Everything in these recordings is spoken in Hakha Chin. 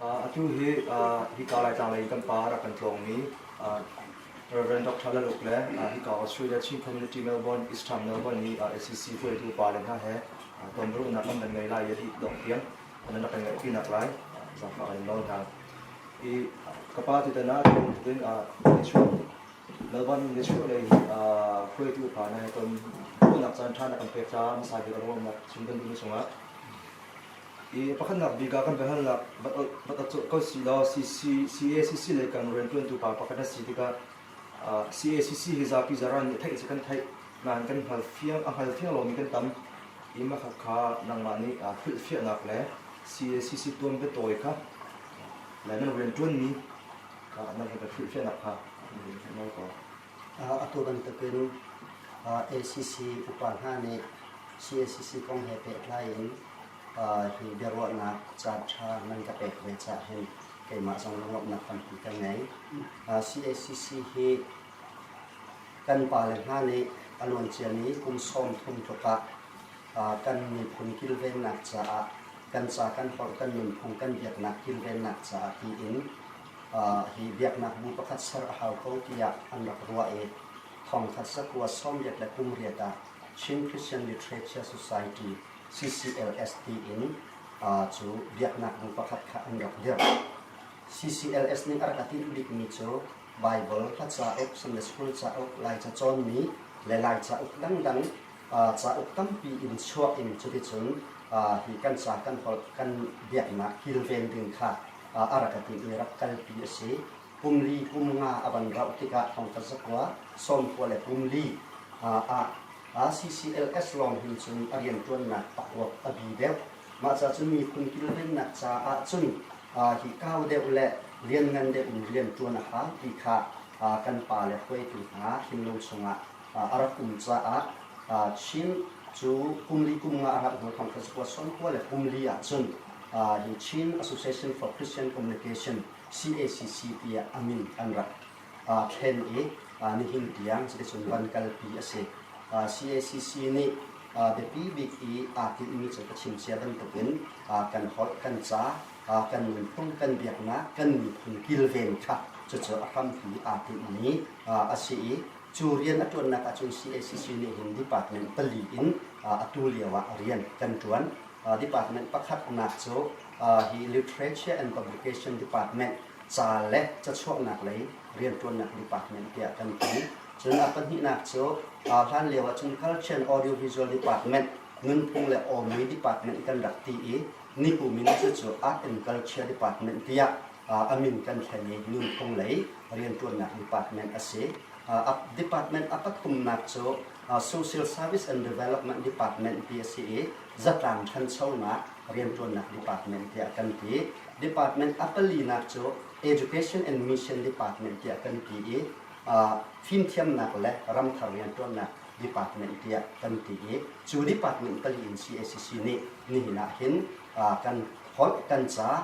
Atu hi hika Laitlangah lei kan pa a rak kan tlawngmi Reverend Dr. Lal Uk le hika Australia Chin Community Melbourne, Eastham Melbourne i SEC hruaitu pale hna he tonbiaruahnak an kan ngei lai i a dih dongh tiang nan rak kan ngaihpinak lai zaangfah kan in nawl hna. I ka pa tutan ah atu bantukin Nichuah Melbourne Nichuah lei hruaitu pale he ton khawhnak caan ṭha na kan pek caah hmasa bik a ruahnak chim kan duhmi cungah I pakhatnak bik ah kan biahalnak va tat colh ko si law CACC lei kan rianṭuantu pa pakhat na si tikah CACC hi zapi zaraan nih theih a si kan theih nain kan hngal fiang a hngal fiang lomi kan tam i mahkhat kha nangmah nih hrilhfiahnak le CACC tuan biatawi kha le nan rianṭuanmi nan he kan hrilhfiahnak kha nawl ko. Atu bantukin ACC upa hna nih CACC kong he pehtlai in hi biaruahnak caan ṭha nan ka pek ve caah hin keimah zong lungawmhnak tampi ka ngei. CACC hi kan pale hna nih a luancia ni kum sawm thum tluk ah kan miphun kilvennak caah kan ca kan holh kan nunphung kan biaknak kilvennak caah tiin hi biaknak bu pakhat ser a hau ko tiah an rak ruah i thawngtha cakuat sawmriat le kumriat ah Chin Christian Literature Society, CCLS, tiin cu biaknak bu pakhat kha an rak dirh. CCLS nih a rak a tinh bikmi cu Baibal, Hla cauk, Sunday School cauk, Laica cawnmi le Laica uk dangdang Cauk tampi in chuah in cuticun hi kan ca kan holh kan biaknak kilven ding kha a rak ka timh i rak kalpi a si. Kum li kum nga a van rauh tikah thongtla zakua, sawmkua le kum li ah CCLS lawng hin cun a rianṭuannak pakruak a bi deuh. Mah cacun miphun kilvennak caah cun hi kau deuh le lianngan deuh in rianṭuan a hau ti kha kan pa le hruaitu hna thinlung chungah a rak um caah Chin cu kumli kum nga a rauh hnu thawng khan cakuat sawmkua le kumli ahcun hi Chin Association for Christian Communication, CACC, tiah a min an rak thlen i nihin tiang cuticun van kalpi a si. CACC nih biapi bik i aa tinhmi cu ka chim cia bantukin kan holh, kan ca, kan nunphung, kan biaknak, kan miphun kilven kha cucu a hrampi aa tinhmi a si i Cu rian a ṭuannak ahcun CACC nih hin department pali in atu lio ah rian kan ṭuan. Department pakhatnak cu hi Literature and Publication Department ca le cachuahnak lei rianṭuannak department tiah kan ti. Cun a pahnihnak cu hlan lio ahcun Culture and Audiovisual Department nunphung le awmi department kan rak ti i nikum in cucu Art and Culture Department tiah a min kan thlen i nunphung lei rianṭuannak department a si. A department a pathumnak cu Social Service and Development Department ti a si i zatlang ṭhanchonak rianṭuannak department tiah kan ti. Department a palinak cu Education and Mission Department tiah kan ti i fimthiamnak le ramthar rianṭuannak department tiah kan ti i cu department pali in CACC nih nihin ah hin kan holh, kan ca,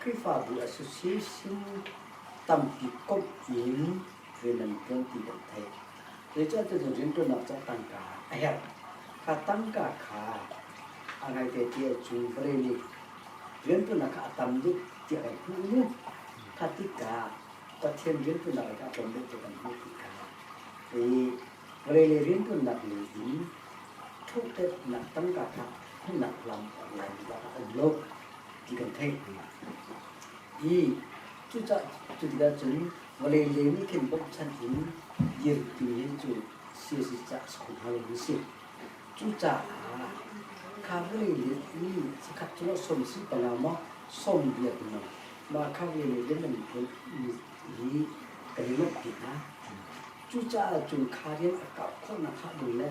Khrihfabu association tampi komh in rian an ṭuan ti kan theih. Zeicah tucun rianṭuannak cu a tangka a herh? Kha tangka kha a ngaite ti ahcun vale nih rianṭuannak kha a tam deuh ti a kan hmuh i kha tikah Pathian rianṭuannak kha a tlawm deuh ti a kan hmuh tikah i Re le rianṭuannak lei in thawhṭannak tangka kha hmunhnak lam laimi ah an lawmh ti kan theih. I cucah cu tikah cun vawlei le nih khin bawmhchanh in dir timi hi cu siasi cah a si kho hna lomi a si. Cucaah kha vawlei le mi sakhat cu lo som si panga maw som bia ti maw mah kha vawlei le nan bawmhmi hi kan i lawmh ti hna. Cucaah cun kha rian a kauh khawhnak hnga ding le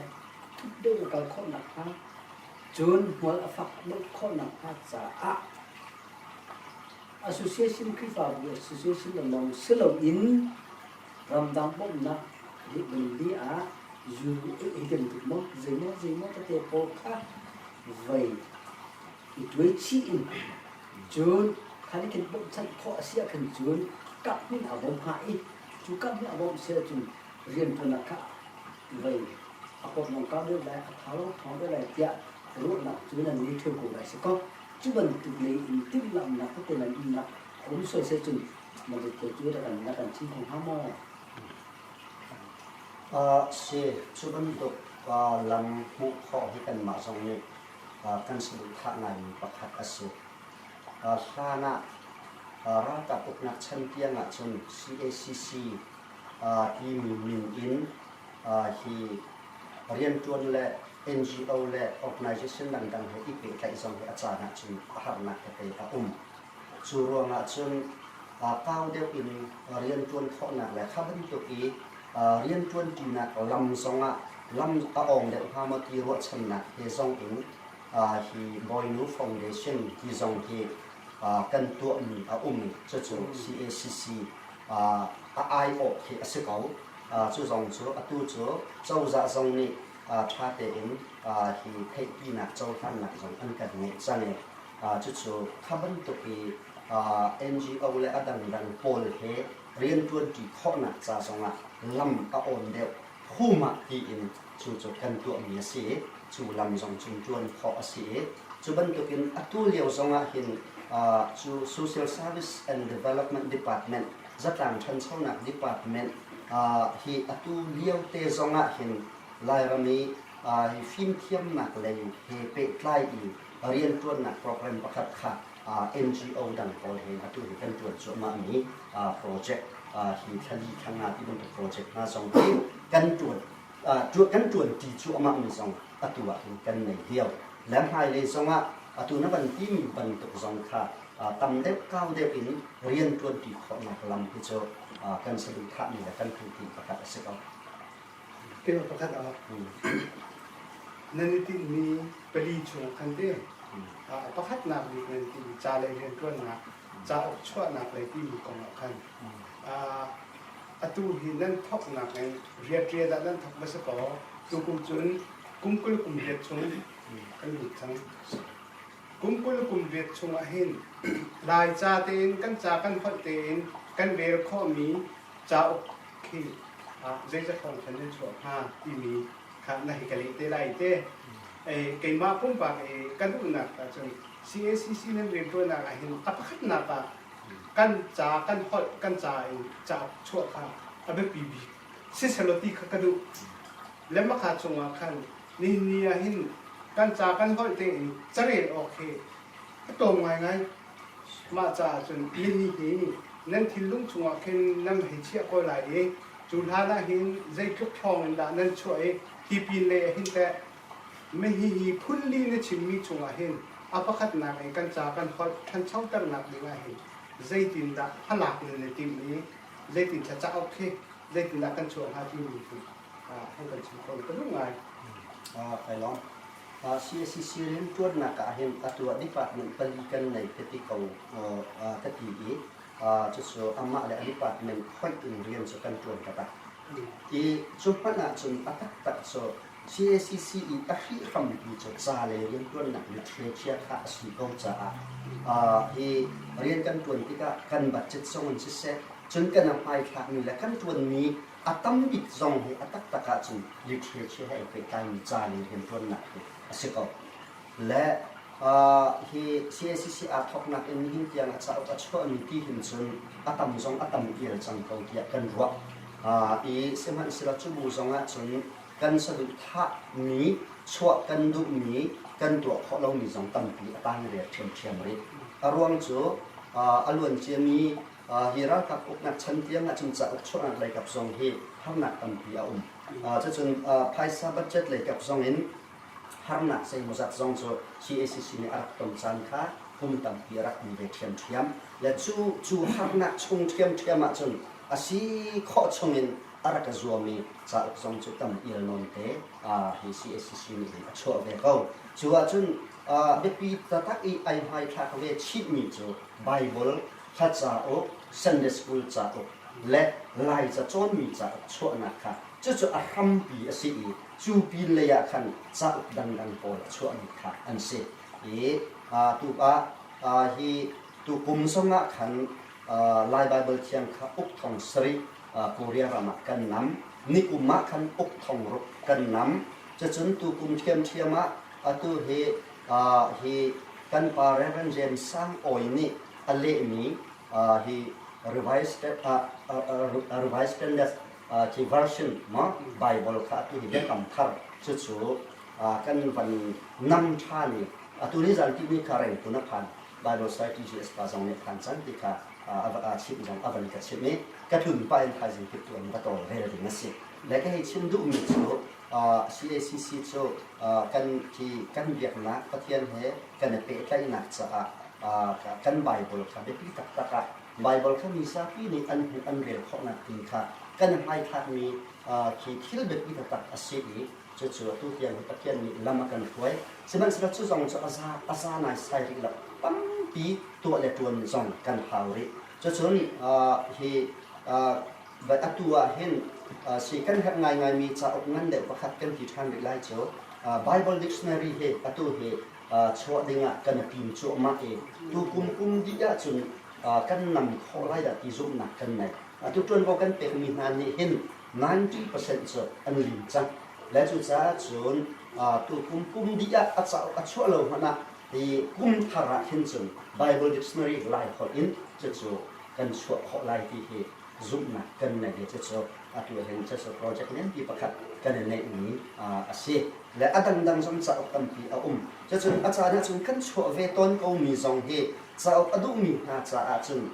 thuk deuh in a kal khawh nakhnga, cun hmual a fak deuh khawh nakhnga caah Association Khrihfabu Association le lawng si loin ramdang bawmhnak ribanli ah zul ei bantuk maw zeimaw zeimaw tete pawl kha voi i tuai chih in cun kha nih kan bawmhchanh khawh a si ah khan cun kap hmin aa bawm hnga i Cu kap nih a bawmh seh cun rianṭuannak kha a vei, a pawtlawngka deuh le a tha lo thawng deuh lai tiah ruahnak cu nan meithal ko lai si kaw, cu bantuk lei in timhlamhnak tete nan umnak a um sawh seh cun na bitte cu na kan chim kho hnga maw? A si, cu bantuk lam hmuh khawh hi kanmah zong nih kan saduhthah ngaimi pakhat a si. hlan ah ralkap uknak chan tiang ahcun CACC timi min in hi rianṭuan le NGO le organisation dangdang he i pehtlaih zong hi a caan ahcun a harnak he pei a um. Cu ruangah cun kau deuh in rianṭuan khawhnak le kha bantuk i rianṭuanṭinak lam zong ah lam a awng deuh hnga maw ti ruahchannak he zong in hi Mawinu Foundation ti zong hi kan tuahmi a um. Cucu cacc a aiawh khi a si ko. Cu zong cu atu cu cozah zong nih ṭha tein hi theihpinak cohlannak zong an kan ngeih cang i cucu kha bantuk i NGO le a dangdang pawl he rianṭuanṭi khawhnak ca zongah lam a awn deuh. Humah tiin cu cu kan tuahmi a si i cu lam zong cun ṭuan khawh a si i cu bantukin atu lio zongah hin cu Social Service and Development Department, zatlang ṭhanchonak department, hi atu liote zongah hin Lairam i fimthiamnak lei he pehtlai in rianṭuannak program pakhat kha NGO dang pawl he atu hin kan ṭuan cuahmahmi project hi thlali thlangnga ti bantuk project hna zong hi kan ṭuan kan ṭuanṭi cuahmahmi zong atu ah hin kan nei lio. Le hmailei zongah atu na van timi bantuk zong kha tam deuh kau deuh in rian ṭuanṭi khawhnak lam hi cu kan saduhthahmi le kan hmuhti pakhat a si ko. Keimah pakhat ah nan i tinhmi pali chung an leng. A pakhatnak nih nan i tinhmi ca lei rianṭuannak, cauk chuahnak lei timi kong ah khan atu hi nan thawknak in riaṭial ah nan thawk va si kaw tukum cun kum kul kum riat chung kan lut cang. Kum kul kum riat chung ah hin Laica tein kan ca kan fonh tein kan rel khawhmi cauk khi zeizat thawngthanh nan chuah hnga timi kha na hi ka leh te lai te. Keimah pumpak i ka duhnak ahcun CACC nan rianṭuannak ah hin a pakhatnak ah kan ca kan holh kan ca in cauk chuah kha a biapi bik si sehlaw ti kha ka duh. Le mahka chungah khan nihin ni ah hin kan ca kan holh tein carel awk hi a tlawm ngaingai Mah caah cun minih hi nan thinlung chungah khin nan hei chiah ko lai i cu hlan ah hin zeitluk thawng in dah nan chuah i hi pinlei ah hin teh mihihi phunli na chimmi chungah hin a pakhatnak i kan ca kan holh ṭhanchoternak dingah hin zeitindah hmalak nan i timh i zeitin thlacauk khi zeitindah kan chuah hnga timi khi an kan chim kho ka duh ngai kai lawm CACC rianṭuannak ah hin atu ah department pali kan nei ka ti ko ka ti i cucu amah le a department hoih in rian cu kan ṭuan ka ta i cu hmanh ah cun a taktak cu CACC i a hrih hrampi cu ca le rianṭuannak mit hrialchia kha a si ko caah hi rian kan ṭuan tikah kan budget zong in siseh cun kan a hmaithlakmi le kan ṭuanmi A tam bik zong hi a taktak ahcun literature he ai pehtlaimi ca le rianṭuannak hi a si ko. Le hi CACCR thawknak in nihin tiang a cauk a chuahmi ti hin cun a tam zong a tam vial cang ko tiah kan ruah. I sihmanhsehlaw cu bu zong ahcun kan saduhthahmi, chuah kan duhmi, kan tuah khawh lomi zong tampi a tang ria ṭhiamṭhiam rih. A ruang cu a luanciami Hi ralkap uknak chan tiang ah cun cauk chuahnak lei kap zong hi harnak tampi a um. Cucun phaisa budget lei kap zong in harnak zeimawzat zong cu CACC nih a rak ton caan kha kum tampi a rak um ve ṭhiamṭhiam. Le cu cu harnak chung ṭhiamṭhiam ahcun a si khawh chungin a rak i zuami cauk zong cu tam ialnawnte hi CACC nih hin a chuah ve ko. Cu ahcun biapi taktak i ai hmaithlak ve chihmi cu Baibal Pakhat cauk, Sunday School cauk le Laica cawnmi cauk chuahnak kha cucu a hrampi a si i cu pinlei ah khan cauk dangdang pawl a chuahmi kha an si. Hi tuk ah hi tukum zong ah khan Lai Baibal Thiang kha uk thong sarih Korea ram ah kan nam. Nikum ah khan uk thong ruk kan nam. Cucun tukum ṭhiamṭhiam ah Atu hi hi kan pa Rev. James Sang Awi nih a lehmi hi Revised Standard ti version maw Bible kha ati hi biakam thar cucu kan van nam than i atu ni zan ti ni kha reng kun a phan Bible Society GS pa zong nih phan cang ti kha a chimh zong a van ka chimh i ka tlun pa in thaizing kip tu an va tawl ve ding a si le ka hei chim duhmi cu CACC cu kan biaknak Pathian he kan i pehtlaihnak caah kan Baibal kha biapi taktak ah Baibal kha mi zapi nih an hmuh an rel khawhnak ding kha kan i hmaithlakmi khi thil biapi taktak a si i cucu atu tiang hi Pathian nih lam a kan hruai. Sihmanhsehlaw cu zong cu a za naisai rih lo. Tampi tuah le ṭuan zong kan hau rih. Cucun hi But atu ah hin si kan herh ngaingaimi cauk ngan deuh pakhat kan ti ṭhan rih lai cu. Bible Dictionary hi atu hi chuah ding ah kan i tim cuahmah i tukum kum dih ahcun kan nam khawh lai dah ti zumhnak kan nei. Atu ṭuanvo kan pekmi hna nih hin ninety percent cu an lim cang lai. Cucaah cun tukum kum dih ah a cauk a chuah lo hmanh ah hi kum thar ah hin cun Bible Dictionary Lai holh in cucu kan chuah khawh lai ti hi zumhnak kan ngeih hi cucu a tuahlen cucu project nganpi pakhat kan i neihmi a si. Le a dangdang zong cauk tampi a um. Cucun a caan ahcun kan chuah ve tawn komi zong hi cauk a duhmi hna caah cun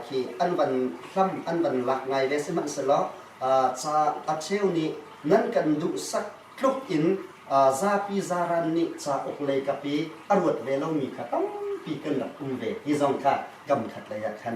khi an van hlam an van lak ngai ve sihmanhsehlaw ca a cheu nih nan kan duhsak tluk in zapi zaran nih cauk leikap i a ruat ve lomi kha tampi kan rak um ve ti zong kha kam khat lei ah khan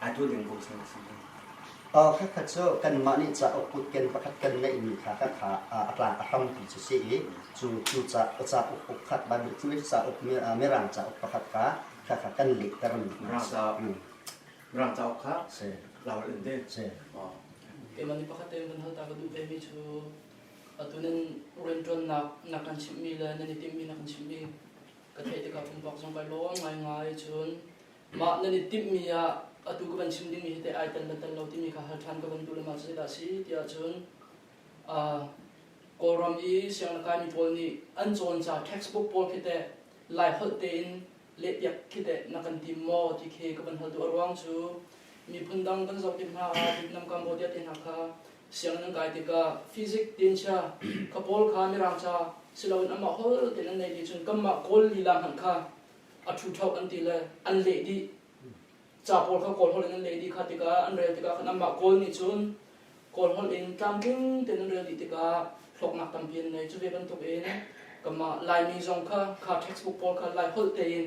Atu ding bu chung a si i pakhatkhat cu kanmah nih cauk kutken pakhat kan ngeihmi kha ka kha a tlang a hrampi cu si i cu cu ca cauk ukhat bantuk cu cauk mirang cauk pakhat kha kha kha kan lehtermi Mirang cauk Mirang cauk kha lawl in de Keimah nih pakhat tein kan hal ta ka duh vemi cu atu nan rianṭuannak na kan chimhmi le nan i timhmi na kan chimhmi ka theih tikah pumpak zong kai lawm ngaingai cun Mah nan i timhmi ah atu ka van chim dingmi hi teh ai tan ban tan lo timi kha hal ṭhan ka van duh lengmang cu zeidah a si tiah cun Kawlram i sianglaikaimi pawl nih an cawn ca textbook pawl khi teh lai holh tein lehpiak khi teh na kan tim maw ti khi ka van hal duh a ruang cu miphun dang kan zoh tik hna ah Vietnam Cambodia te hna kha sianginn an kai tikah fizik tianchia ka pawl kha mirangca si loin amah hol tein an nei ti cun kanmah kawl lila hmanh kha a ṭhuṭho an ti le an leh dih ca pawl kha kawl holh in an leh dih kha tikah an rel tikah khan anmah kawl nih cun kawl holh in tlamtling tein an rel dih tikah hlawknak tampi an nei cu ve bantuk in kanmah laimi zong kha kha textbook pawl kha lai holh tein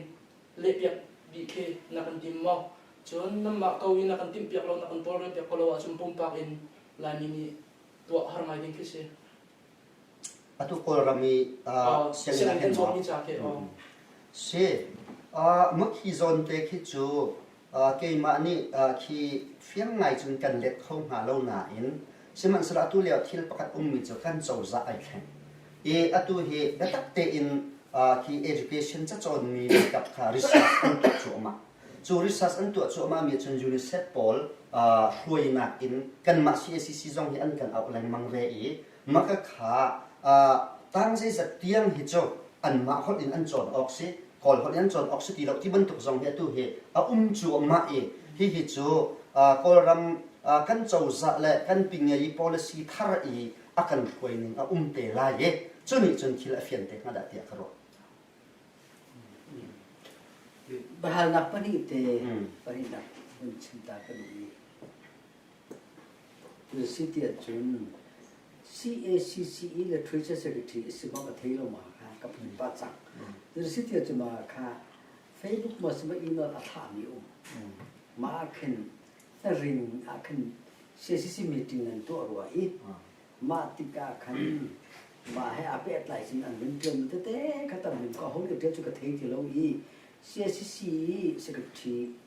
lehpiak dih khi na kan tim maw cun nanmah ko i na kan timh piak lo na kan tawlrel piak ko lo ahcun pumpak in laimi nih tuah har ngai ding khi si atu kawlram i sianginn cawn mi ca khi si muk hi zawn te khi cu keimah nih khi fiang ngai cun kan let kho hnga lo nain sihmanhsehlaw atu lio thil pakhat ummi cu kan cozah ai thleng i atu hi biatak tein khi education ca cawnmi biatak kha research an tuah cuahmah cu research an tuah cuahmah mi cun UNICEF pawl hruainak in kanmah CACC zong hi an kan auh lengmang ve i Maka kha tar zeizat tiang hi cu anmah holh in an cawn awk si, Kawl holh in an cawn awk si ti lo ti bantuk zong hi atu hi a um cu a mah i hihi cu Kawlram kan cozah le kan pingeyi policy thar i a kan hruaining a um te lai i cu nih cun thil a fian te hnga dah tiah ka ruah. Bahalnak pahnih te pahnih nak chim ta ka duhmi Na si ti ahcun CACCE le Treasury Secretary a si bak a thei lo ma kha ka phun pa cang. Na si ti ahcun ma kha Facebook ma si ma email a thami um. Mah ah khin na rin ah khin CACC meeting an tuah rua i mah tikah khan mah he a pehtlai cun an vun ṭian tete kha tam vun ka hau le ṭian cu ka thei ti lo i CACC i secretary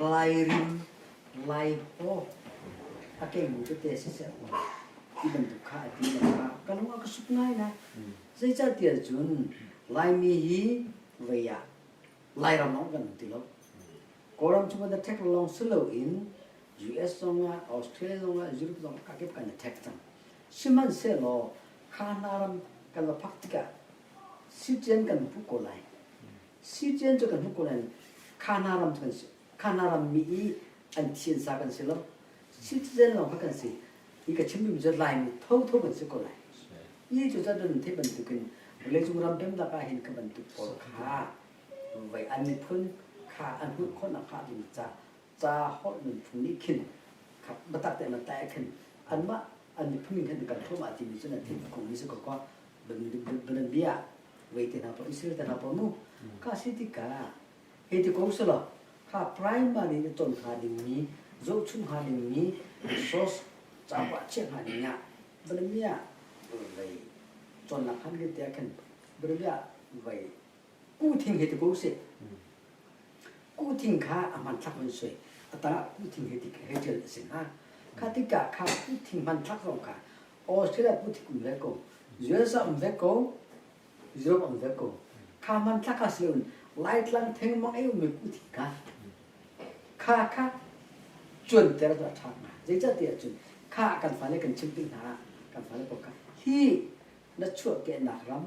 Lairim, Laipaw a keimi tete siseh ti bantuk kha a ti lengah ka lung a ka suk ngai na. Zeicahtiah cun Laimi hi vei ah Lairam lawng kan ti lo. Kawlram cu the thek lawng si loin US zong ah, Australia zong ah, Europe zong ah kakip kan i thek cang. Sihmanhsehlaw kha hna ram kan la phak tikah sitian kan pu ko lai. Si Tian cu kan hmuh ko nain Khana ram cu an si. Khana rammi i an thiansa kan si lo. Citizen lawng kha kan si i ka chimmi cu Laimi thotho kan si ko lai. I cu cun theih bantukin vawleicung ram pemnak ah hin ka bantuk pawl kha voi an miphun kha an hmuh khawhnak hnga ding ca ca holh nan phung nih khin biatak te nan tae khin anmah an miphun min khin kan thlum a timi cu nan thil kong ni su ko ko banan bia wei te hna po Israel te hna po mu ka si ti ka he ti kong selo ha primary ni ton ha ding mi zohchung ha ding mi resource capo chiah ha ding ya banan bia wei chon nak han ke te khin banan bia wei Ku thing he ti ko sih. Ku thing kha a hman thlak man sui. Atang ah ku thing he ti he ṭil a si hnga. Kha tikah kha ku thing hman thlak zong kha Australia ku thing um ve ko. USA um ve ko. Europe um ve ko. Kha hman thlak kha si loin Laitlang theng mang ei um ve ku thing kha. Kha kha cun ter cu a ṭha hnga. Zeicahtiah cun kha kan fale kan chim ding hna kan fale ko kha hi na chuahkehnak ram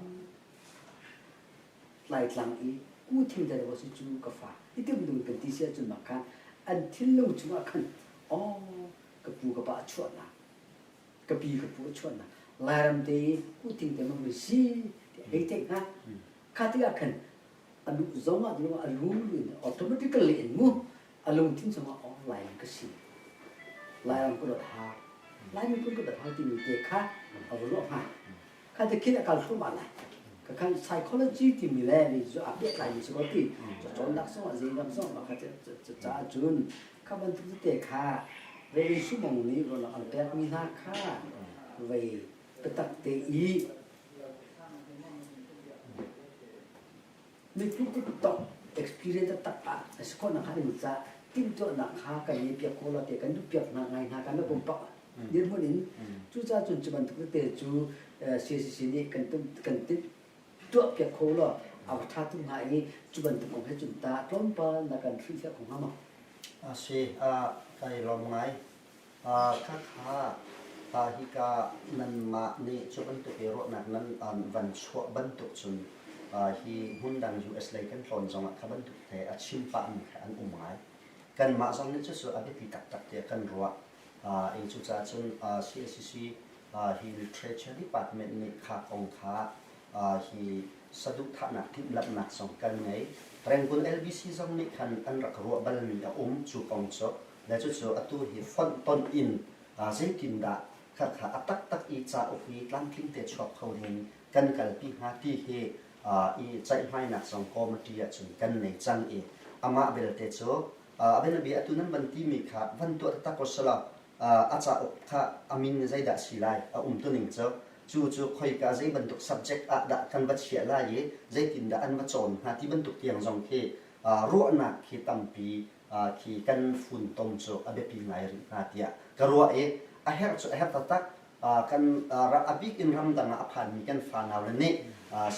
Laitlang i ku thim dai lo si cu ka fa. I tuk ding kan ti si ahcun mah khan an thil lo chungah khan aw ka pu ka pa a chuah na ka pi ka pu a chuah na lairam te i ku thing te ma vui si ti hei theih hna kha tikah khan a nu zong ah a rum in automatically in mu a lungthin cungah oh Lai ka si Lai ram kut thar Lai mi kut thar timi te kha a ruah hnga kha te khin a kal thum ala ka kan psychology timi le ni zu a peh lai mi si ko ti cho chon dak song azei ram song ma kha ca cun kha bantuk te kha vei sumong nih ron an pek mi hna kha vei petak te i Mitthut cu tok experience taktak ah a si khawh nakhnga kan cah timhtuahnak kha kan ngei piak ko lo tiah kan duh piak hna ngai hna kan la pumpak dirhmun in cucaah cun cu bantuk tete cu CCC nih kan kan tuah piak kho lo a va ṭha tung hnga i cu bantuk kong he cun tah tlawmpal na kan hrilhfiah kho hnga maw? A si, ka i lawm ngai. Khakha, ta hika nanmah nih cu bantuk i ruahnak nan van chuah bantuk cun hi hmun dang US lei kan tlawn zongah kha bantuk te a chim pahmi kha an um ngai. Kanmah zong nih cucu a biapi taktak tiah kan ruah. I cucaah cun CACC hi literature department nih kha kong kha hi saduhthahnak timhlamhnak zong kan ngei. Rangoon LBC zong nih khan an rak ruah balmi a um. Cu kong cu na cucu atu hi fonh tonh in zeitindah khakha a taktak i cauk i tlamtling te chuak kho ding kan kalpi hnga ti hi i ceihmainak zong committee ahcun kan nei cang i amah belte cu a bianabia atu nan van timi kha van tuah taktak ko selaw a cauk kha a min zeidah si lai a umtuning cu cu cu khoika zei bantuk subject ah dah kan va chiah lai i zeitindah an va cawn hnga ti bantuk tiang zong khi ruahnak hi tampi hi kan funtom cu a biapi ngai rih hna tiah ka ruah i a herh cu a herh taktak kan a bik in ramdang ah a phanmi kan fanau le nih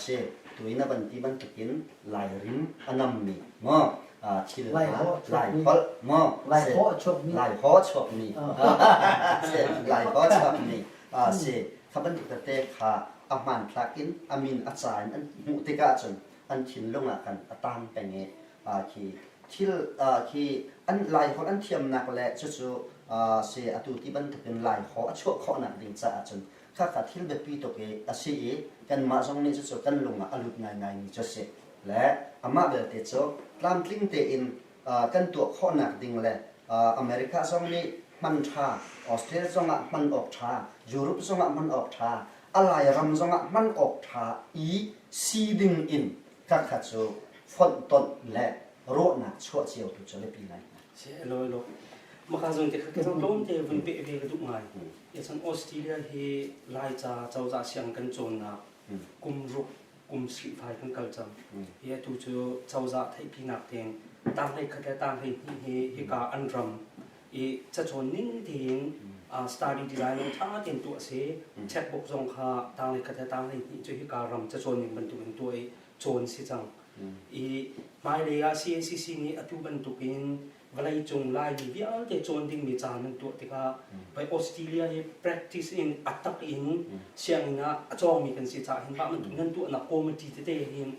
si tuin a van ti bantukin lairim a nammi maw thil laipalh maw laihaw chuakmi laihaw chuakmi si kha bantuk tete kha a hmanthlak in a min a ca in an hmuh tikah cun an thinlung ah khan a tang peng i khi thil khi an laiholh an thiamnak le cucu se atu ti bantukin laiho a chuah khawhnak ding caah cun khakha thil biapi tuk i a si i kanmah zong nih cucu kan lungah a lut ngaingaimi cu a si le amah belte cu tlamtling tein kan tuah khawhnak ding le America zong nih hman ṭha Australia zongah hman awk ṭha Europe zongah hman awk ṭha a lairam zongah hman awk ṭha i si ding in Tlakhat cu fonhtonh le ruahnak chuah cio tu cu biapi ngai. Si lo lo. Maka zong te kha kan tlawm te vun pe ve ka duh ngai. Echan Australia hi Laica cozah siang kan cawnnak kum ruk kum sri fai kan kal cang. Hi atu cu cozah theihpinak ten tang hlei khat le tang hlei hnih hi hika an ram i cacawn ning tein study design lawng ṭha tein tuah a si. Checkbook zong kha tanglei khat le tanglei hnih cu hika ram cacawn ning bantuk in tuah i cawn si cang. I hmailei ah CNCC nih atu bantuk in vawleicung Laimi vialte cawn dingmi caan nan tuah tikah bei Australia i practice in a tak in sianginn ah a cawngmi kan si caah hin mah bantuk nan tuahnak committee tete hin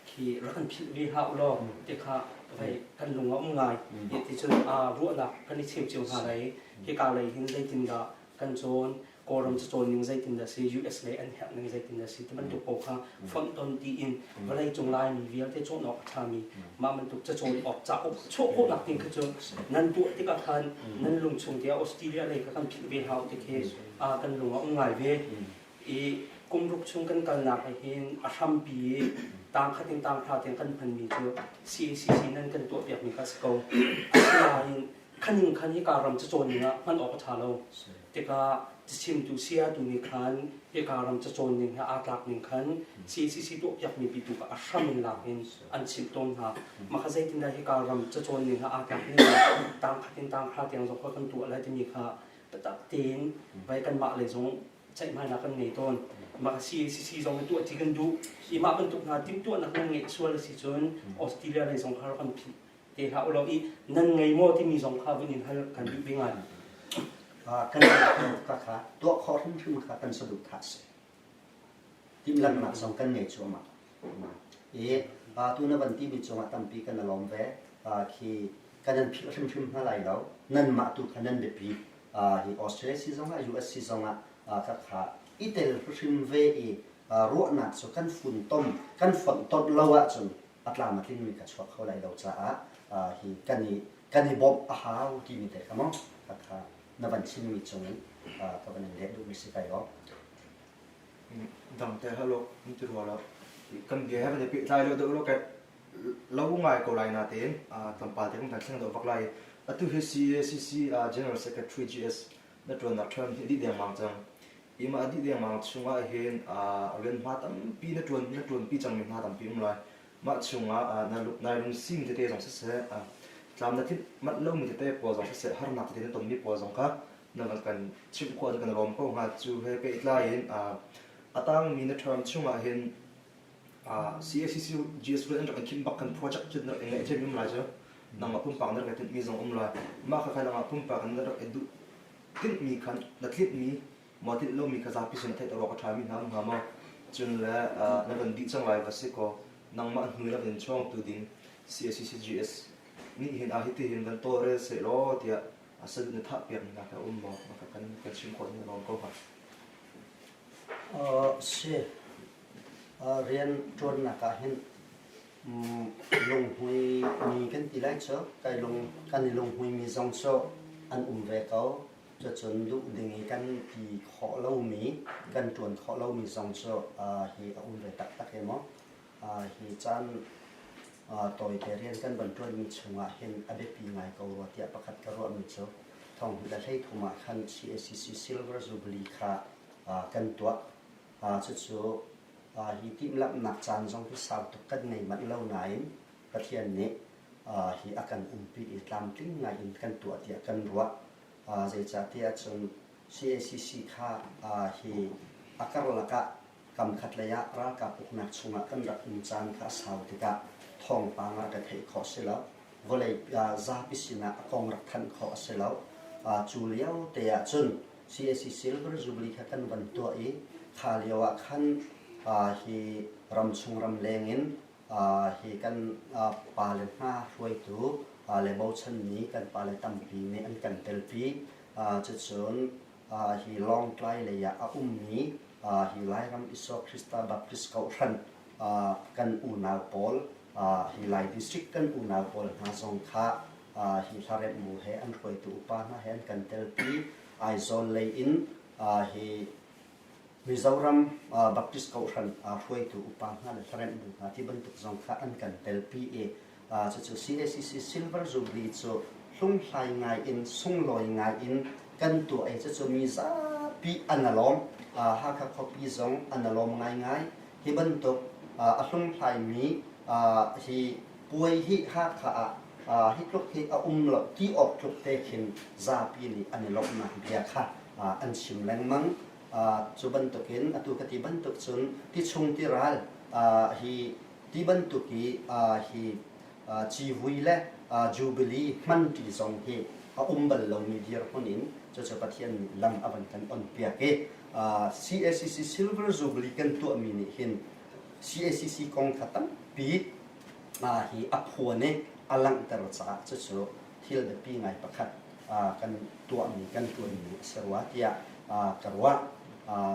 khi rak kan philh ve hlah u law ti kha vei kan lung a um ngai i ti cun aa ruahnak kan i cheu cio hna lai hi ka lei hin zeitindah kan cawn kawlram cu cawn ning zeitindah si US lei an herh ning zeitindah si ti bantuk pawl kha fonh ton tiin vawlei cung laimi vialte cawn awk a ṭhami mah bantuk ca cawn awk cauk chuah khawhnak ding kha cu nan tuah tikah khan nan lung chung tiah Australia lei kha kan philh ve hna u ti khi a kan lung a um ngai ve i kumruk chung kan kalnak ah hin a hrampi i tangkhat in tangthla tiang kan hmanmi cu CACC nan kan tuahpiakmi kha a si ko. Asinain khan in khan hika ram cacawn ning ah hman awk a ṭha lo. Tikah cachimtu saya-tu nih khan hika ram cacawn ning he aa tlak ning khan CACC tuahpiakmi pitu kha a hram in lak in an chimh tawn hna. Mah kha zeitindah hika ram cacawn ning he aa tlak ning ah tangkhat in tangthla tiang zong kha kan tuah lai timi kha biatak tein vai kanmah lei zong ceihmainak kan ngei tawn. Mah a si, CC zong hi tuah tti kan duh. Hi mah bantuk hna timhtuahnak nan ngeih sual a si cun Australia lei zong kha rak kan philh te hlah u law i nan ngei maw timi zong kha vun in hal kan duh ding ngai. kan ka kha tuah khawh hrimhrim kha kan saduh thah si. Timhlamhnak zong kan ngei cuahmah. I vatu na van timi cungah tampi kan i lawm ve. khi kan nan philh hrimhrim hna lai lo. Nanmah tu kha nan biapi hi Australia si zongah US si zongah ka kha i tel hrim ve i ruahnak cu kan funtom kan fonhtonh lo ahcun a tlam a tlingmi ka chuak kho lai lo caah hi kan i kan i bawmh a hau timi te kha maw ka kha na van chimmi cungin ka van in leh duhmi si kai lo. dang te halo ni ti rua lo kan bia he vate peh tlai lo deuh lo ke lo ngai ko lai na te tampal te kan kan thleng do vak lai atu he CACC General Secretary GS na tuan nak than hi di deng mang chang ima adi deng mang chunga hen ren ma tam pi na tuan na tuan pi chang mi ma tam pi um lai ma chunga na luk nai rung sim te te jong se se tlam na thin mat lo mi te po jong se har nak te na ton mi po jong ka na ka kan chimh kuan kan lawm ko hnga cu he pehtlai in a tangmi na term chungah hin CACC GS Rail an rak khim bak kan project chin rak ngai them um lai cu nangma pumpak na rak tinmi zong um lai mah ka nangma pumpak na rak duh tinh mi khan na tlinh mi mo tinh lo mi kha zapi sin thai tawrok tha mi hna hnga mo chun le na van di chang lai va si ko nangma hnui la van chong tu ding CACC GS nih hin a hiti hin van to rel se lo tia a san na thah piakmi nak a um maw? Na ka kan kan chim khawh ning lawm ko hnga. Uh, si uh, rian ṭuannak ah hin um, lunghmui mi kan ti lai cu kai lung kan i lunghmui mi zong cu an um ve ko cucun duh ding i kan ti khawh lomi kan ṭuan khawh lomi zong cu uh, hi a um ve taktak e maw hi caan tawite rian kan van ṭuanmi chungah hin a biapi ngai ko rua tiah pakhat ka ruahmi cu thonghnih le hlei thum ah khan CACC Silver Jubilee kha kan tuah. cucu hi timhlamhnak caan zong hi sau tuk kan ngei manh lo nain Pathian nih hi a kan umpi i tlamtling ngai in kan tuah tiah kan ruah. zeicahtiah cun CACC kha hi a karlak ah Kamkhat lei ah ralkap uknak chungah kan rak um caan kha a sau tikah thawngpang ah ka theih khawh si lo. Vawlei zapi sinah a kong rak thanh khawh a si lo. Cu liote ah cun CAC Silver Jubilee kha kan van tuah i kha lio ah khan hi ramchung ramleng in hi kan pale hna hruaitu le bochanmi kan pale tampi nih an kan telpi. Cucun hi Lawngtlai lei ah a ummi hi Lairam Isua Krista Baptist Kohhran kan unau pawl hi Lai District kan unau pawl hna zong kha hi hlaremh mu he an hruaitu upa hna he an kan telpi Aizawl lei in hi Mizoram Baptist Kohhran hruaitu upa hna le hlaremh mu hna ti bantuk zong kha an kan telpi i cucu CACC Silver Jubilee cu hlunghlai ngaiin sunglawi ngaiin kan tuah i cucu mi zapi an alawm. Hakha khuapi zong an alawm ngaingai. Hi bantuk a hlunghlaimi hi puai hi Hakha ah hi tluk hi a um lo ti awk tluk te khin zapi nih an i lawmhnak bia kha an chim lengmang. Cu bantukin atu ka ti bantuk cun ti chung ti ral hi Ti bantuk i hi civui le jubilee hmanṭi zong hi a um bal lomi dirhmun in cucu Pathian nih lam a van kan onpiak i CACC Silver Jubilee kan tuahmi nih hin CACC kongkha tampi hi a phuan i a langhter caah cucu thil biapi ngai pakhat kan tuahmi kan ṭuanmi a si rua tiah ka ruah.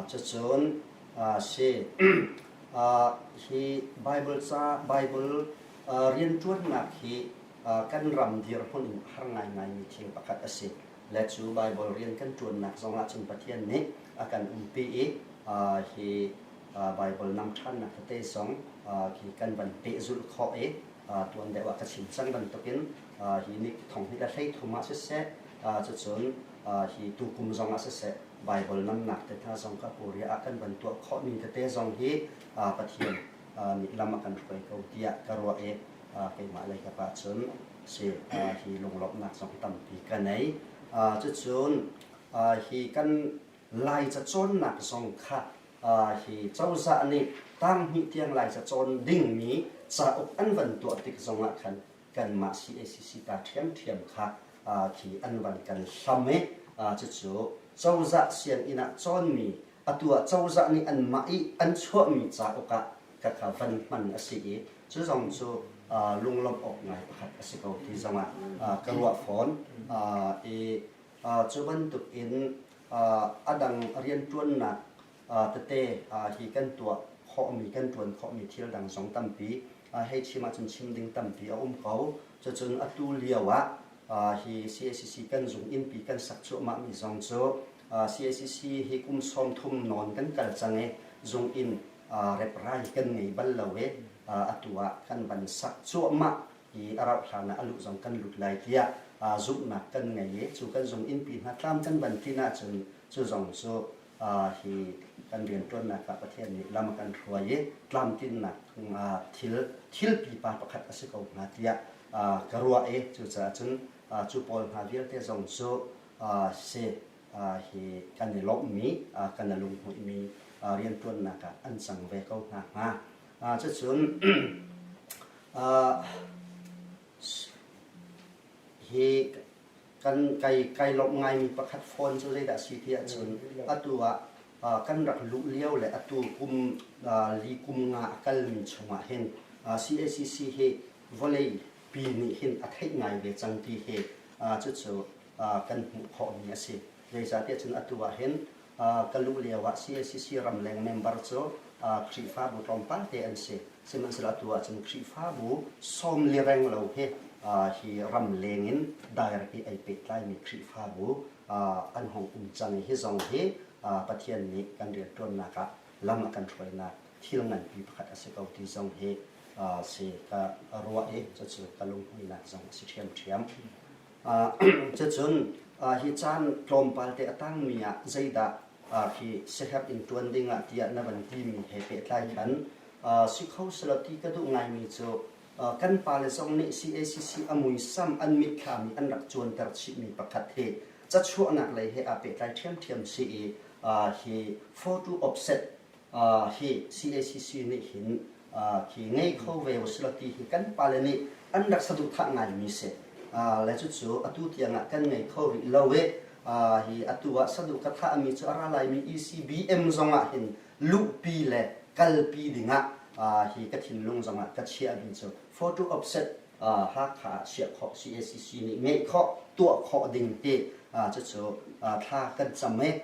Cucun a si. Hi Baibal rianṭuannak hi kan ram dirhmun in a har ngaingaimi thil pakhat a si. Le cu Baibal rian kan ṭuannak zongah cun Pathian nih a kan umpi i hi Baibal nam ṭhannak tete zong khi kan van pehzulh khawh i tuan deuh ah ka chim cang bantukin hi ni thonghnih le hleithum ah siseh cucun hi tukum zongah siseh Baibal langhnak tete zong ka Korea ah kan van tuah khawhmi tete zong hi Pathian nih lam a kan hruai ko tiah ka ruah i keimah leikap ahcun si hi lunglawmhnak zong tampi ka nei. Cucun hi kan Laica cawnnak zong kha hi cozah nih tang hnih tiang Laica cawn dingmi cauk an van tuah tik zongah khan kanmah cacc ta ṭhiamṭhiam kha khi an van kan hlam i cucu cozah sianginn ah cawnmi atu ah cozah nih anmah i an chuahmi cauk ah ka kha van hman a si i cu zong cu lunglawmh awk ngai pakhat a si ko ti zongah ka ruah fawn i cu bantukin a dang rianṭuannak tete hi kan tuah khawhmi kan ṭuan khawhmi thil dang zong tampi hei chim ahcun chim ding tampi a um ko. Cucun atu lio ah hi CACC kan zung innpi kan sak cuahmahmi zong cu CACC hi kum sawm thum nawn kan kal cang i zung inn reprai kan ngei bal lo i atu ah kan van sak cuahmah i a rauh hlan ah a luh zong kan lut lai tiah zumhnak kan ngei i cu kan zung innpi hna tlam kan van tlin ahcun cu zong cu hi kan rianṭuannak ah Pathian nih lam a kan hruai i tlamtlinnak thil thil pipa pakhat a si ko hnga tiah ka ruah i cucaah cun cu pawl hna vialte zong cu se hi kan i lawmhmi kan i lunghmuihmi rianṭuannak ah an cang ve ko hna hnga cucun hi kan kai kai lawmh ngaimi pakhat phone cu zeidah a si ti ahcun atu ah kan rak luh lio le atu kum li kum nga a kalmi chungah hin CACC hi vawlei pi nih hin a theih ngai ve cang ti hi cucu kan hmuh khawhmi a si. Zeicahtiah cun atu ah hin ka luh lioah cacc ramleng member cu Khrihfabu tlawmpal te an si. Sihmanhsehlaw atu ahcun Khrihfabu sawm li reng lo he hi ramleng in direct i ei pehtlaimi Khrihfabu an hung um cang i hi zong hi Pathian nih kan rianṭuannak ah lam a kan hruainak thil nganpi pakhat a si ko ti zong hi si ka ruah i cucu ka lunghmuihnak zong a si ṭhiamṭhiam. Cucun hi caan tlawmpal te a tangmi ah zeidah hi siaherh in ṭuan ding ah tiah na van timi he pehtlai khan si kho selaw ti ka duh ngaimi cu kan pale zong nih cacc a muisam an mitthlam i an rak cuanter chihmi pakhat hi cachuahnak lei he aa pehtlai ṭhiamṭhiam si i hi photo offset hi CACC nih hin hi ngei kho ve u sila ti hi kan pale nih an rak saduhthah ngaimi si le cucu atu tiangah kan ngei kho rih lo i hi atu ah saduh ka thahmi cu a ra laimi ECBM zongah hin luhpi le kalpi dingah hi ka thinlung zongah ka chiahmi cu photo offset Hakha ah chiah khawh cacc nih ngeih khawh, tuah khawh ding ti cucu thla kan cam i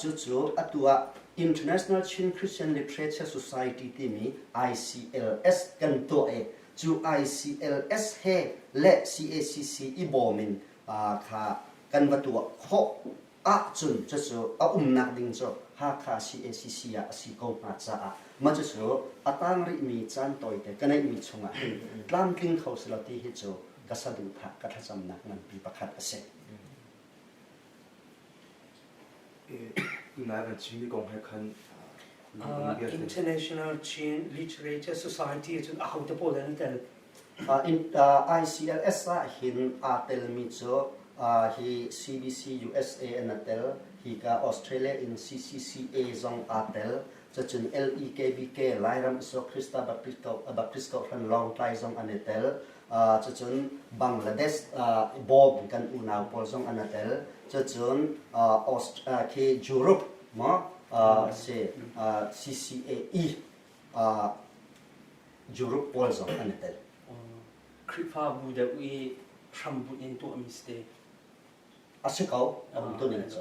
cucu atu ah International Chin Christian Literature Society timi ICLS kan tuah i cu ICLS he le cacc i bawm in kha kan va tuah khawh. ahcun cucu a umnak ding cu Hakha cacc ah a si ko hnga caah mah cucu a tang rihmi caan tawite ka neihmi chungah hin tlamtling kho si lo ti hi cu ka saduhthah ka thlacamnak nganpi pakhat a si. Nai van chimmi kong he khan Uh, international Chin Literature Society ahcun ahote pawl an tel ICTDA ICLS ahhin aa telmi cu hi CBC USA an a tel. Hika Australia in CCCA zong aa tel. Cucun LEKBK Lairam Iso-Krista Baptist Kohhran Lawngtlai zong an i tel. Cucun Bangladesh Bob kan unau pawl zong an a tel. Cucun khi Europe maw si CCAE Europe pawl zong an i tel. Khrihfabu deuh i hrambunh in tuahmi si te. A si ko, a um tuning cu.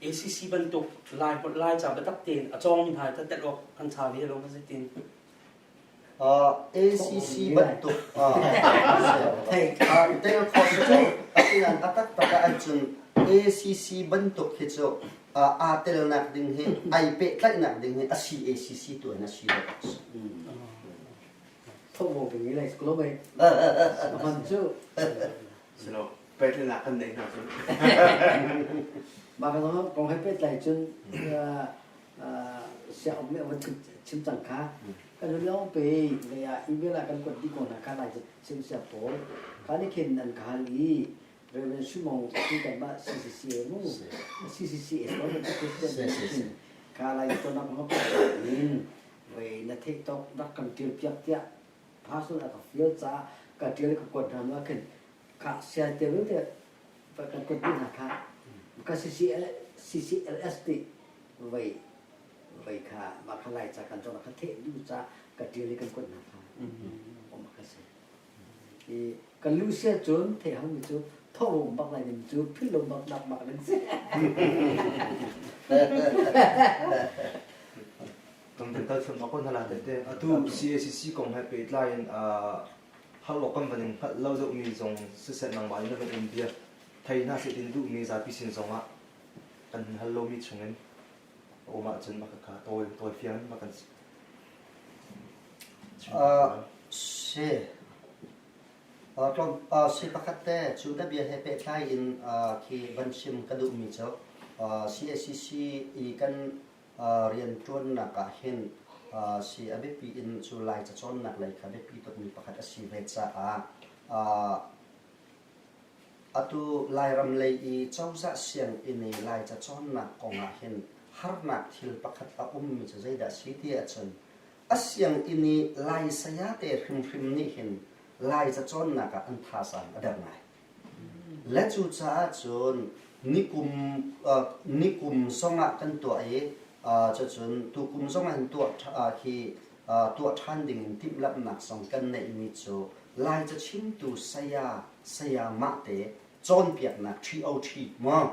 ACC bantuk lai holh lai ca biatak tein a cawngmi hna ta tel awk an sa ve lo ma zeitin? ACC bantuk thei tel khawh cu a tian taktak tak an cun ACC bantuk hi cu aa telnak ding hi ai pehtlaihnak ding hi a CACC tu in a si lo. Thobo ding mi lai lo bai. A man cu. Silo pehtlaihnak kan nei hna cu. Ba ka zong kong hai pehtlai cun siaum me wa chim cang kha kan lu long pe le ya i vela kan kuat di ko na kha lai sim sia paul kan i khen nan ka hal i Reverend Shimon Peter ma CCCA mu CCCA ko na President in ka lai to nak no in voi na thei tok rak kan tir piak tia personal ka feel cha ka tir ka kwat nam la kin ka sia te ru te pa kan kwat na ka ka CCL CCLS ti voi voi ka ma kha lai cha kan to na ka the du cha ka tir kan kwat na ka o ma ka se Ka lu sia cun thei hang mi cu thawhbom bak lai ding cu phillo bak nak bak nan si. kan kan kal chung akon hala te atu CACC kong hai pe tlai in har lo kan baning hal lo zau mi zong siset nang ba in ban um bia thai na se tin du mi zapi sin zong ah an hal lo mi chung in a um ahcun maka kha tawi tawifiang ma kan si. Uh, si. Uh, tlawm, uh, si pakhat te cu da bia he pe thlai in uh, khi ban chim ka duh mi cho. Uh, CACC i kan uh, rian tuan nak ah hin uh, si a biapi in cu lai cacawn nak lei kha biapi tuk mi pakhat a si ve ca ah uh, Atu Lairam lei i cozah sianginn i Laica cawnnak kong ah hin harnak thil pakhat a ummi cu zeidah a si ti ahcun a sianginn i Lai sayate hrimhrim nih hin Laica cawnnak ah an thazaang a der ngai. Le cucaah cun nikum, uh, nikum zong ah kan tuah i uh, cucun tukum zong ah hin tuah ṭha, uh, hi tuah ṭhan dingin timhlamhnak zong kan neihmi cu Lai cachimtu saya sayamah te cawnpiaknak ṭhi-o-ṭhi maw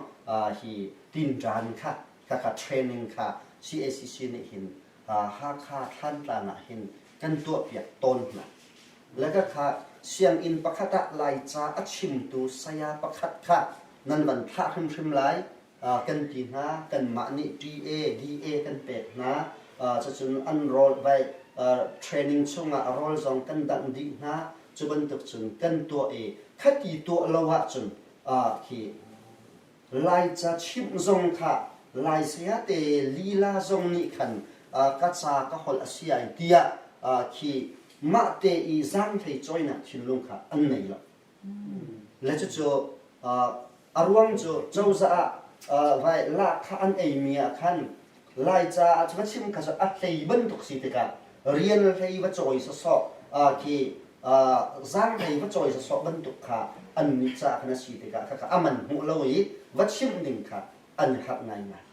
hi tinṭan kha khakha training kha CACC nih hin Hakha Thlantlang ah hin kan tuahpiak tawn hna. Lagakhah sianginn pakhat ah Laica a chimtu saya pakhat kha nan van thlah hrimhrim lai kan ti hna kanmah nih TA, DA kan pek hna cucun an rawlvaih training chungah rawl zong kan dangh dih hna cu bantuk cun kan tuah i khati tuah lo ahcun khi Laica chimh zong kha Lai sayate lila zong nih khan ka ca ka holh a si ai tiah khi mahte i zaanghlei cawinak thinlung kha an nei lo. Le cucu a ruang cu cozah ah vai laa kha an eimi ah khan Laica ah cu va chim kha cu a hlei bantuk si tikah rian hlei va cawi sawsawh khi zaang hlei va cawi sawsawh bantuk kha annih ca khan a si tikah khakha a man hmuh lo i va chimh ding kha an khat ngaingai.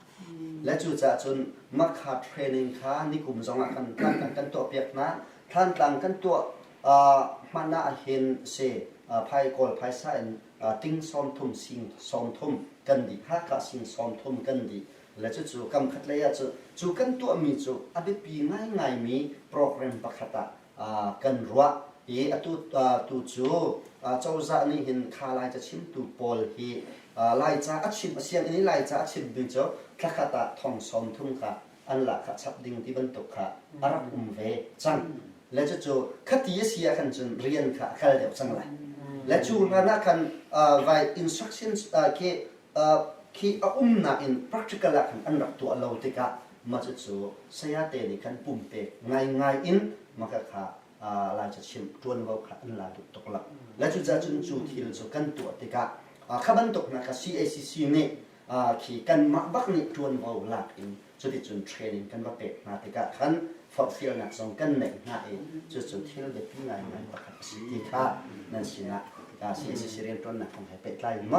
Le cucaah cun Makha training kha nikum zongah kan tangka kan tuahpiak hna. Thlantlang kan tuah hman ahhin si phai kawl phaisa in ting sawmthum sing sawmthum kan dih hakah sing sawmthum kan dih le cucu kam khat lei ah cu cu kan tuahmi cu a biapi ngaingaimi program pakhat ah kan ruah i atu cu cozah nih hin kha lai cachimtu pawl hi laica a chim a sianginn i laica a chim ding cu thlakhat ah thong sawm thum kha an lahkhah chap ding ti bantuk kha a rak um ve cang le cucu khati a si ah khan cun rian kha a kal deuh cang lai le cu hlan ah khan vai instructions khi a umnak in practical ah khan an rak tuah lo tikah Mah cu sayate nih kan pumpek ngaingai in maka kha laica-chim ṭuanvo kha an lai tuk tuk lo. Le cucaahcun cu thil cu kan tuah tikah kha bantuk hna kha CACC nih khi kanmah bak nih ṭuanvo lak in cuticun training kan va pek hna tikah khan forhfialnak zong kan neih hna i cucu thil biapi ngaingai pakhat a si ti kha nan sinah CACC rianṭuannak kong he pehtlai in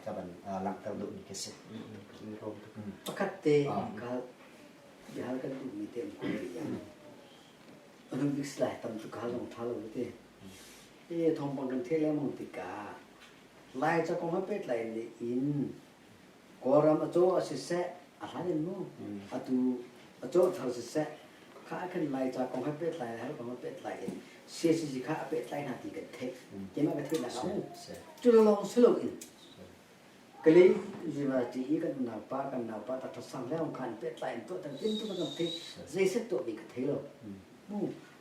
ka van langhter duhmi khi a si. pakhat te an kal bihar kan duhmi te an kul rih Olympics lai tam cu kal long tha lo te e thong bang kan thele mong tika lai cha kong pe tlai ne in goram acho asise ahlain mu atu acho thar sise kha kan lai cha kong pe tlai har kong pe tlai in CCC kha pe tlai na ti kan thek kima ka thwe na mu chu long sulong in Kali University i kan naupa kan naupa ta ṭha sang le khan pehtlai in tuah tan tintum kan theih zei set tuah ding ka thei lo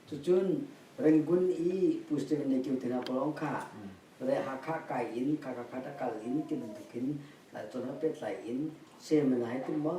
cucun Rangoon i Pu Stephen le Kyu Tina Pawlawng kha Hakha kai in Kakakhat a kal in ti bantuk in cun pehtlai in seminar hi tum maw